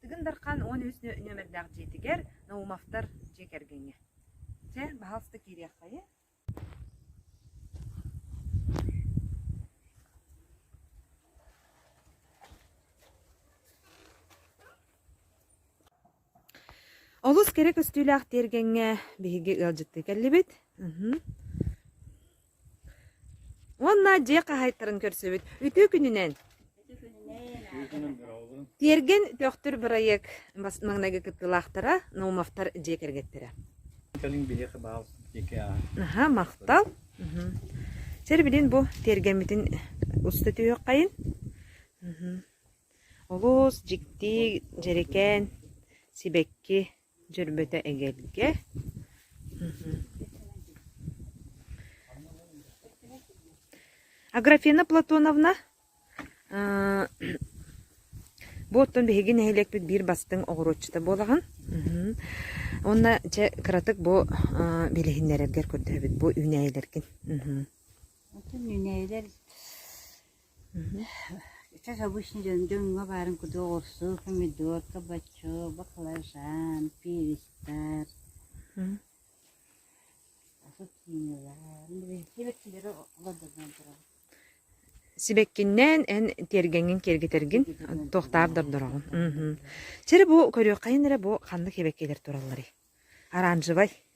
Тыгын Дархан уон үс нүөмэрдээх дьиэтигэр Наумовтар дьиэ кэргэҥҥэ Чэ, баһаалыста киириэххэйэ Олус кэрэ көстүүлээх тиэргэҥҥэ биһиги ыалдьыттыы кэллибит Уонна дьиэ хаһаайыттарын көрсүбүт. Үтүө күнүнэн! Тиэргэн Төхтүр бырайыак бас маҥнайгы кыттыылаахтара Наумовтар дьиэ кэргэттэрэ. Кэлин биһиэхэ баал диэки ааһар. Аха, махтал. Мгм. Сэр билин бу тиэргэммитин уста түһүөххэйин. Мгм. Олус дьикти, дьэрикээн, сибэкки, Дьөрбөтө эгэлгэ Аграфена Платоновна бу оттон биһиги нэһилиэкпит биир бастыҥ оҕуруотчута буолаҕын уонна дьэ кыратык бу билиһиннэрэргэр көрдөһөбүт бу үүнээйилэргин үүнээйилэр Как обычно дьоҥҥо баарын курдук оҕурсу, помидорка, бочок, баклажан, перистар, Сибэккиннээн эн тиэргэҥҥин киэргэтэргин туохтаах да ордороҕун. Мм. Чэ эрэ бу көрүөх хайын эрэ бу ханнык сибэккилэр туралларый? Оранжевай.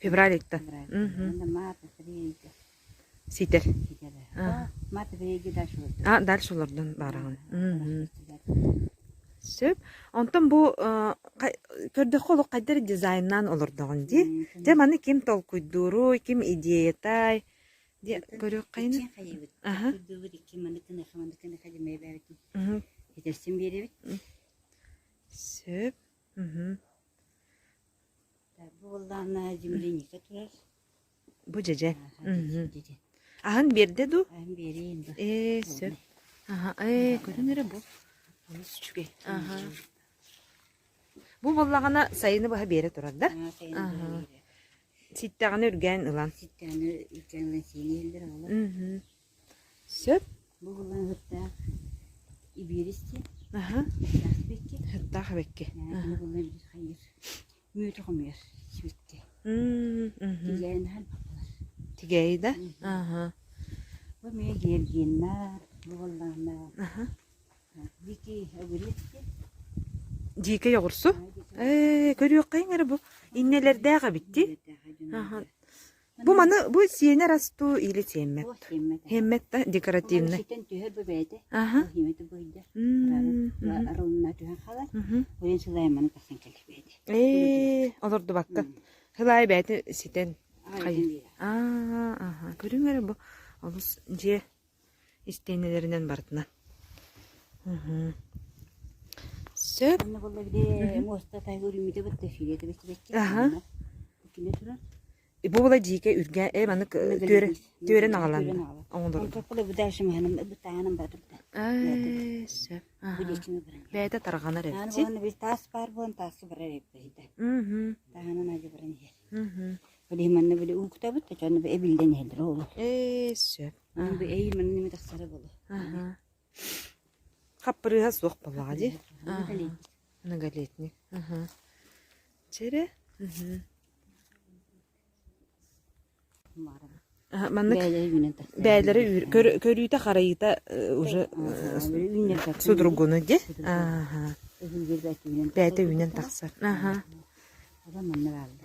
Февралиттан. Ситэр. А, дальше олордон баараҕын. Сөп. Онтон бу көрдөххө олох хайдары дизайннаан олордоҕун дии. Дьэ, маны ким толкуйдууруй, ким идеятай? Дьэ, көрүөххэйин. Аха. Сөп. Бу дьэдьэ. Аһын биэрдэ дуу? Ээ, сөп. Аха, ээ, көрүн эрэ бу. Олус үчүгэй. Аха. Бу буоллаҕына сайыны баһа биэрэ турар да? Ситтэҕинэ үргээн ылан. Ситтэҕинэ үргээн ылан сиини иллэр оҕолор. Сөп. Бу булан ыһыктаах ибиэрис диэн. Аһа. Ыһыктаах сибэкки. Ыһыктаах сибэкки. Аһа. Бу булан биир хайыыр мүөтү хомуйар сибэкки. Тигээйин аһан баппалар. Тигээйи да? Аһа. Бу эмиэ гиэргиэннэ, бу буллаана. Аһа. Дикий огурецки. Дикий оҕурсу? Ээ, көрүөххэйиҥ эрэ бу. Иннэлэрдээх эбит дии. Аһа. Бу маны бу сиэнэ растуу или сиэммэт. Сиэммэт да декоративный. Түһэр бу бэйэтэ. Аха. Химэтэ быйда. Арылына түһэн халар. Ойын сылайманы тахсан кэлбэйти. Ээ, олордубакка. Сылай бэйти ситен. Хай. Аа, аха. Көрүҥ эрэ бу олус дьиэ истиэнэлэринэн барытынан сөп бу была дьиикэ үргэ э маны түөрэ түөрэн агаланна оңолору сөп бэйэтэ тарҕанар эбит таас баар буолан таасы барар эбит таһанан аja баран иһэр Oli манна били уукутабыт да чонно эбиллен иһэллэр оолу. Ээ сөп. Мин бу эйи манна неме тахсара болу. Аха. Хаппырыыһа суох боллаҕа дии. Многолетник. Аха. Чэрэ? Маннык бээлери көрүүтэ харайыта уже судургуну ди. Аха. Бээте үүнэн тахсар. Аха. Манна баалды.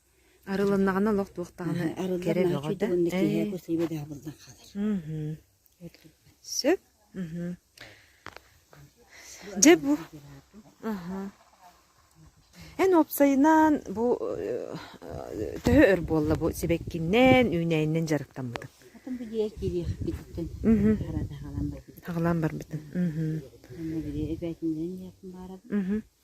Арылыннаҕына олох туох даҕаны кэрэ бөҕө да. Сөп. Дьэ бу. Эн уопсайынан бу төһө өр буолла бу сибэккиннэн, үүнээнинэн дьарыктаммытыҥ? Атын бу дьиэ киириэхпититтэн хараата хаалан барбытын. Хаалан барбытын. Эбээтиннэн яатын бааран.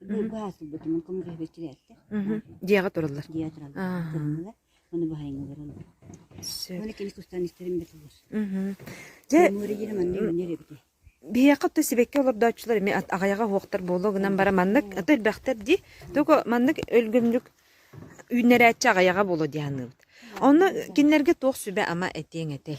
Мм. быһаастырбытымын коммуниһэбэччилээттих. Дьиэҕэ тураллар. Дьиэҕэ тураллар. Аа. Тураллар. Маны баһайын олороллор. Сөп. Уонна кини тустаан истэрим бетуллар. Мм. Дьэ Муора диирим аны үүннэриэбити. биһиэхэ то сибэкки олордооччулар эми ат- аҕайаҕа уһуохтар буолуо гынан бара маннык аты элбэхтэр дии токо маннык өлгөмнүк үүннэрээччи аҕайаҕа буолуо дии саныыбыт онно кинилэргэ туох сүбэ ама этиэҥ этэй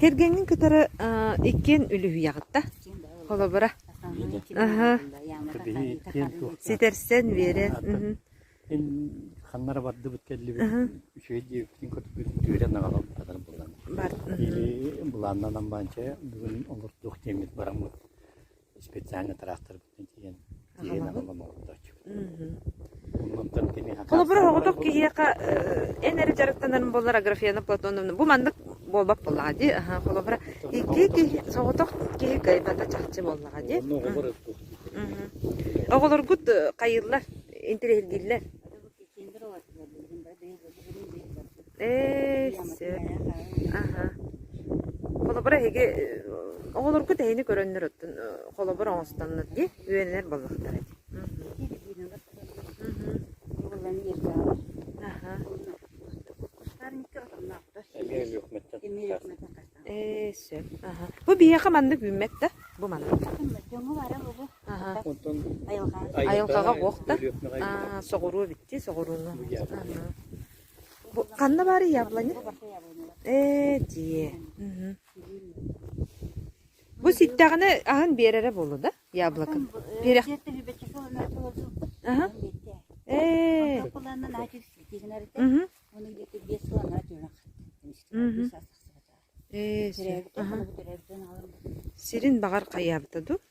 Кэргэҥҥин кытары иккиэн үлүһүйэҕит да? Холобура. Ситэрсэн биэрэн. Ханнара бардыбыт кэллибит. Үчүгэй диэбиппин көтүбүт күөрэн аҕалан батар булан. Или былааннанан баанча бүгүн олордуох диэммит бараммыт. специальный тыраахтарбытын тиийэн тиэйэн аҕалан олордооччубут. Оннуттан киниэхэ Холобур, оҕотох киһиэхэ эн эрэ дьарыктанарын буолар Аграфена Платоновна бу маннык буолбат буоллаҕа дии. Холобура, икки киһи соҕотох киһи кыайбата чахчы буоллаҕа дии. Онно оҕолор Оҕолоргут хайыыллар, интириэһиргииллэр. Ээ, сөп. Аха. Холобур, эһиги оҕолорго тэһини көрөннөр оттон холобур оҥостоннор дии үөнэнэр буоллахтар эти. Аха. Ээ, сөп. Аха. Бу биһиэхэ маннык үүммэт да? Бу маннык. Онтон айылҕаҕа буохтар соҕуруу эбиттии соҕурууну ханна баарый яблоня ээ дии бу ситтэҕинэ аһын биэрэрэ буолуо да яблоко ээ ээ сирин баҕар хайаабыта дуу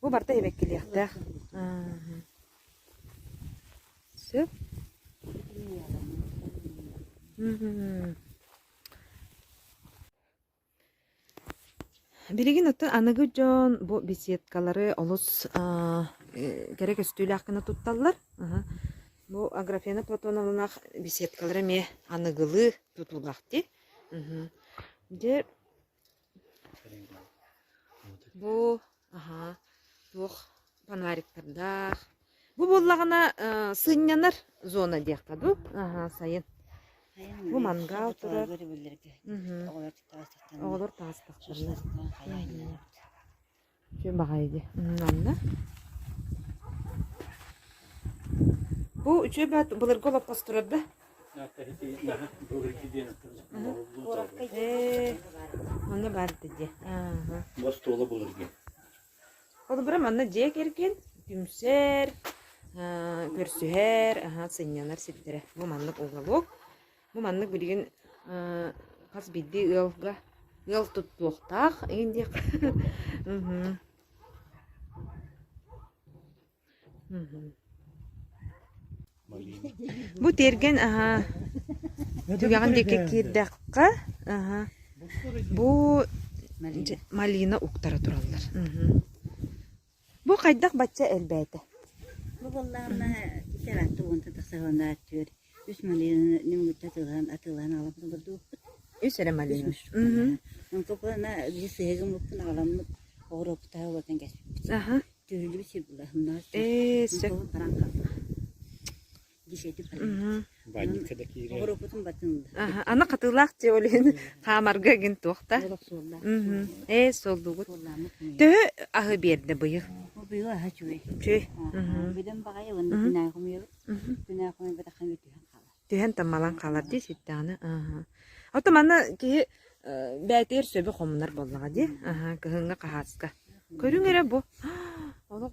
Бу барыта сибэккилиэхтээх. Сөп? Билигин оттон аныгы дьон бу беседкалары олус кэрэ көстүүлээх гына тутталлар. Бу Аграфена Платоновнаах беседкалара эмиэ аныгылыы тутуулаахтыы. Дьэ, Бу, аһаа, туох фонариктардаах. Бу буоллаҕына э, сынньанар зона диэххэ дуу? Аһаа, сайын. Бу мангал турар. Мгм. Оҕолор таастахтарна. Оҕолор таастахтарна. Шашлык, хайаан Күн баҕайы дии. Анна. Бу үчүгэй баат былыргы олоппос турарда. Аны барdı дии. Бас туола булыргын. Ол бира манна дьиэ кэргин түмсэр, көрсүһэр, аха сынньанар сирдэрэ. Бу маннык уголук. Ну, маннык билигин э, хас биирдии ыалга ыал туттуохтаах иһин диэх. Мгм. Мгм. Бу тиэргэн, аһа, түгэҕин диэки киирдэххэ, аһа, бу дьэ, малина уктара тураллар. Мгм. Бу хайдах бачча элбээтэ? Бу буоллаҕына икки араатта уонта тахса уонна түөрт үс малыыны мутта атыылаһан атыылаһан аламмыт олордубуппут. Үс эрэ малыыны? Мм. Онкукуна биир сыһыыгын муппун аҕаламмыт оҕуруоппутаһа буолан кэспиппит. Аха. Түһүллүбүт сир була. Э сөп. Хараҥа хаалла. Баанньыкка да киирэр. Оҕуруоппутун батыылда. Аны хатыылаах дьэ олен хаамарга эгин туохта. Ээ солдугут. Төһө аһы биэрдэ быйы? Быйыл аһа чүүй. Чүүй. Бөдөм баҕайы ылын күнээхумуйабыт. Күнээхумуй батахан бүтүһэн хаалар. Түһэн тамалан хаалар дии ситтэҕне. Ото мана киһи бээтиэр сөбө хомунар боллаҕа дии. Кыһыҥҥа хаһааска. Көрүҥ эрэ бу. Олох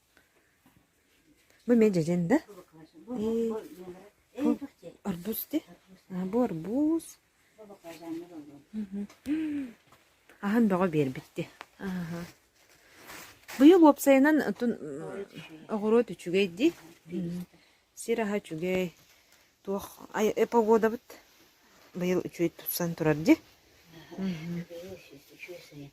Бу мин дьэдьэн да? Э, бу арбуз ди? А, бу арбуз. Аһын бөҕө биэрбитти. Аха. Быйыл уопсайынан отун оҕуруот үчүгэй ди. Сир аһа үчүгэй. Туох ай- погодабыт быйыл үчүгэй тупсан турар ди.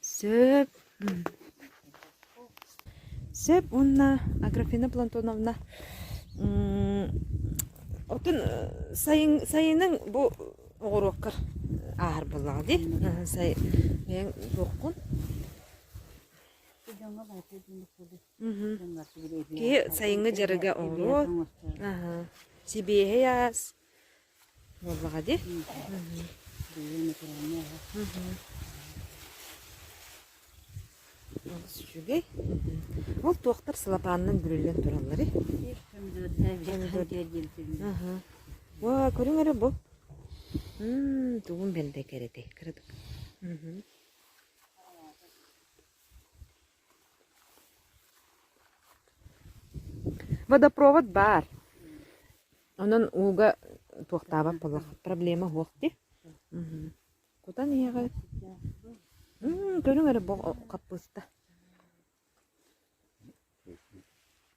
Сөп сөп уонна Аграфена Плантоновна отун сайын сайынын бу оҕуруокка ааһар буоллаҕа дии сайын туоххун киһи сайыҥҥы дьарыга оҕуруот сибиэһэй аас Буоллаҕа дии. Дьиэ натуральная аһа. Олус үчүгэй. Ол туохтар сылапаанынан бүрүллэн тураллар Ва, көрүҥ эрэ бу. Ммм, тугун бэлдэ кэрэтий, кыратык. Водопровод баар. Онон ууга туохтаабат буоллах. Проблема суох ди. Кутан иһэҕит. Көрүҥ эрэ бу хаппыыста.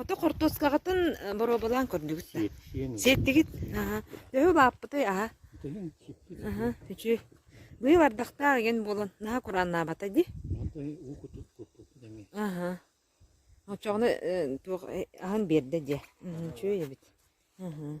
Ото хортуоскаҕытын э, боруобалаан көрдүгүт да? Сиэттиэн да. Сиэттигит? Аха. Төһө бааппытай, аха? Үтүһүн сиппит. Аха, үчү. Быйыл ардахтаах иген буолан, наһаа курааннаабата дии? Аты уу кутут куппуппут эми. Аха. Оччоҕуна э, туох э, аһын биэрдэ дии. Үчү эбит. Аха.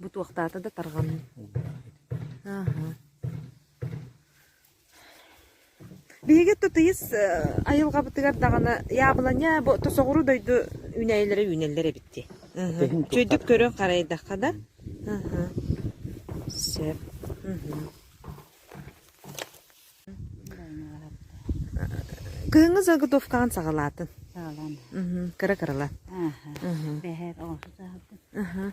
Бу туохтаата да тарҕанна Аха. Биһиги тутуйус айылҕабытыгар даҕаны яблоня бу тосоҕуру дойду үүнэйилэрэ үүнэллэр эбит дии. Чөйдүк көрөн харайдахха да. Сөп. Кыһыҥҥы заготовкаҕын саҕалаатын. Саҕалаан. Кыра кырылан. Аха. Бэһэр оҕуса саҕалаатын.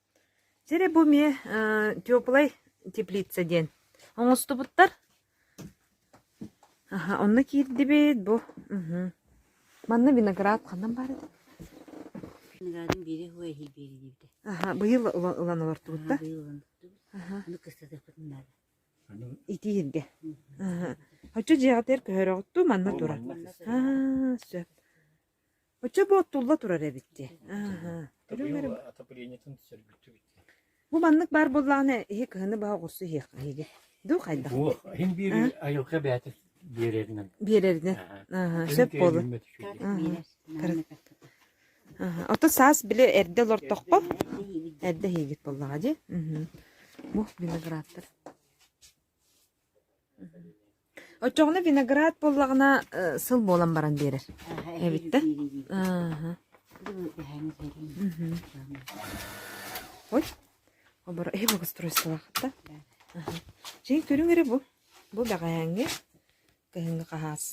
Сирэ бу эмиэ теплай теплица диэн оҥостубуттар. Аха, онно киирдибит бу. Мгм. Манна виноград ханан баар этэ? Виноградын биирэ уһа иһил биэрэ диэбитэ. Аха, быйыл ылан ылан олортубут да. Быйыл ылбыттыбыт. Аха. Ону кыстатыахпыт наада. Аны Итииргэ. Аха. Оччо дьиэҕитигэр көһөрөҕүт дуу, манна турар. манна сыр. Аа, сөп. Оччо буоттулла турар эбит дии. Бу маннык баар буоллаҕына, иһи кыһыны баһа оҕурсу иһиэх эһиги. Дуу хайдах? Буох, иһин биэри айылҕа бэйэтэ биэрэринэн. Биэрэринэн. Аха, сөп буолла. Ото саас били эрдэ олортоххо, эрдэ иһигит буоллаҕа дии. Бу виноградтар. Оччоҕуна виноград буоллаҕына э, сыл буолан баран биэрэр эбиттэр. Ааһа. Ой, оборо эһи благоустройстволаах та. Чин көрүҥ эрэ бу. Бу бэҕэһээҥҥи кыһыҥҥы хаһаас.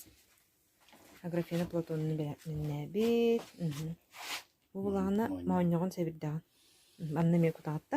Аграфена Платонну миннээбит. Бу булаҕына моонньоҕон сэбирдэҕин. Манна эмиэ кутаҕытта.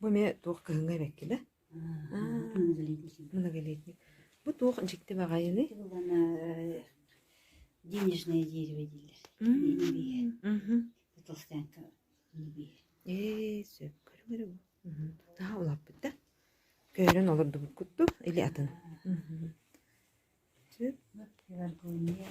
Бу эмиэ туох кыһыҥҥа эбэккилэ? Многолетник. Бу туох дьикти баҕайыный? денежное дерево дииллэр. Толстянка Ээ, сөп көрүҥ эрэ бу. Тутаха улааппыт да. Көйрөн олордубут куттук, или атын. Сөп. Пеларгония.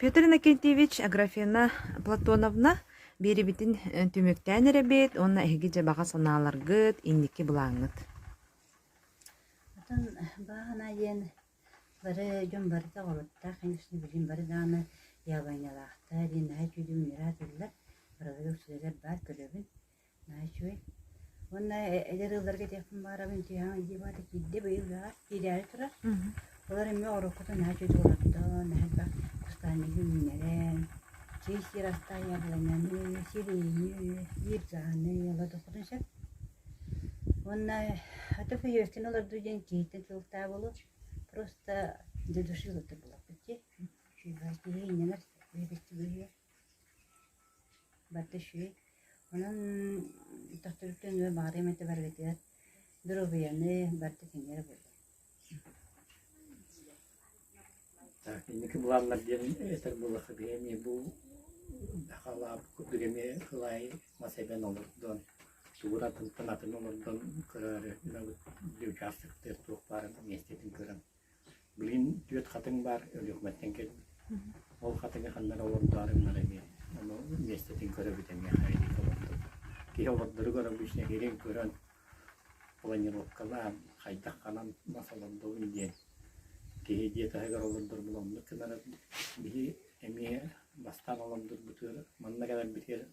Петр Иннокентьевич Аграфена Платоновна биэрибитин түмүктээн эрэбит уонна эһиги дьабаҕа санааларгыт инники былааҥҥыт. Отон бааһына диэн бары дьон барыта оҕолоттаах, конечно, билим бары даҕаны яблонялаахта диэн наһаа үтүлүү мунньараатыллар. Барыларыгар сүрэлэр баар көрөбүн. үчүгэй. Уонна эдэр ыалларга этиэхпин баҕарабын үтүөһэҥ дии вата киирдэ быйыл ыаҕа киирээри турар. Олор эмиэ уруккутун аа үчүгэй туолардаҕын элбэх кустаанньыгы үүннэрэн, чэй сиир астаайалананы, сирэйини, сиир дьааны олордоххутун сөп. Уонна ата хозяйствоны олордуу диэн киһиттэн тылыктаах буолуо. Просто для души олордор буолуохпут дии. Үчүгэй киһи иннинэр бэйэбитин быһыа. Барда үчүгэй. Онон тохторуттан өр баҕарыам этэ барыгытыгар доруобуйаны барыта кинилэр буоллун. Так, инники былааннар диэн этэр буоллахха биһи эмиэ бу хаалаабыккыт эмиэ кылаайы мас эбэн олордон тугунан тылтан атын олордон көрөөрү мынабыт учаастактыыр туох баарын миэстэтин көрөн Билигин түөрт хатыҥ баар Өлүөхүмэттэн кэлбит. Ол хатыҥы ханна эрэ олордоорум бары эмиэ. Ону миэстэтин көрөбүт эмиэ хайалыы олордор. Киһи олордоругар обычно иһирин көрөн планировкалаан, хайдах ханан мас олордобун диэн киһи дьиэ таһыгар олордор була оннук гынар биһи эмиэ бастаан олордорбутугар манна кэлэрбитигэр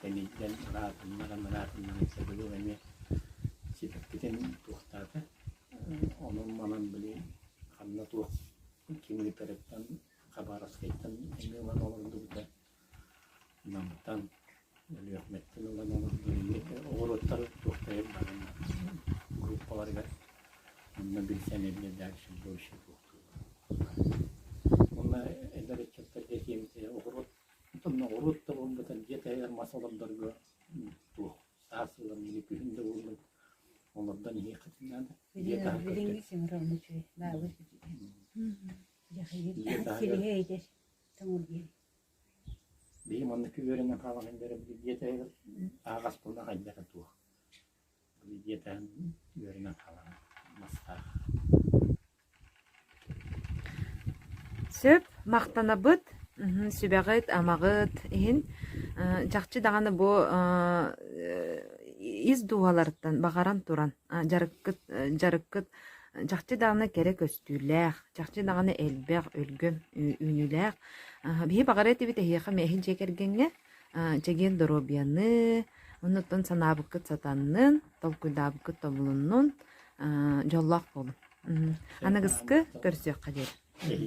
Кэнниттэн ыраатыннаран-ыраатыннаран сабылыыр эмиэ ситэркитэн туохтаата. Ону манан били ханна туох ким ыытарыттан Хабаровскайтан эмиэ ылан олордубута. Намтан, Өлүөхүмэттэн ылан олордо. Оҕуруоттары туохтайар баҕан группаларыгар онно билсэн эбиэ дальше больше туохтуур. Уонна эдэр ыччаттарга тиэмтэ оҕуруот Оттон ноҕуруот да буолбатар дьиэ таһыгар мас олордорго туох саас ылан или күһүн да буоллар олордон иһиэххитин наада. Дьиэ таһыгар билиҥҥи семером үчүгэй, баабыр үчүгэй. Дьиэ таһыгар Биһиги маннык үөрэнэн хаалан иһэн дьиэ таһыгар аһаҕас буолан хайдах туох диэтэн үөрэнэн хаалара мастаах Сөп, махтанабыт. Мхм, сүбэҕит-амаҕыт иһин э, чахчы даҕаны бу э, ис дууһаларыттан баҕаран туран э, дьарыккыт э, дьарыккыт э, чахчы даҕаны кэрэ көстүүлээх, чахчы даҕаны элбэх, өлгөм ү- үүнүүлээх. Аһ, биһи баҕара этибит эһиэхэ, эһин дьиэ кэргэҥҥэ Э, чэгиэн доруобуйаны, оннуттан санаабыккыт сатаннын, толкуйдаабыккыт тобулуннун, э, дьоллоох буолун. Мм, аныгыскы көрсүөххэ диэн.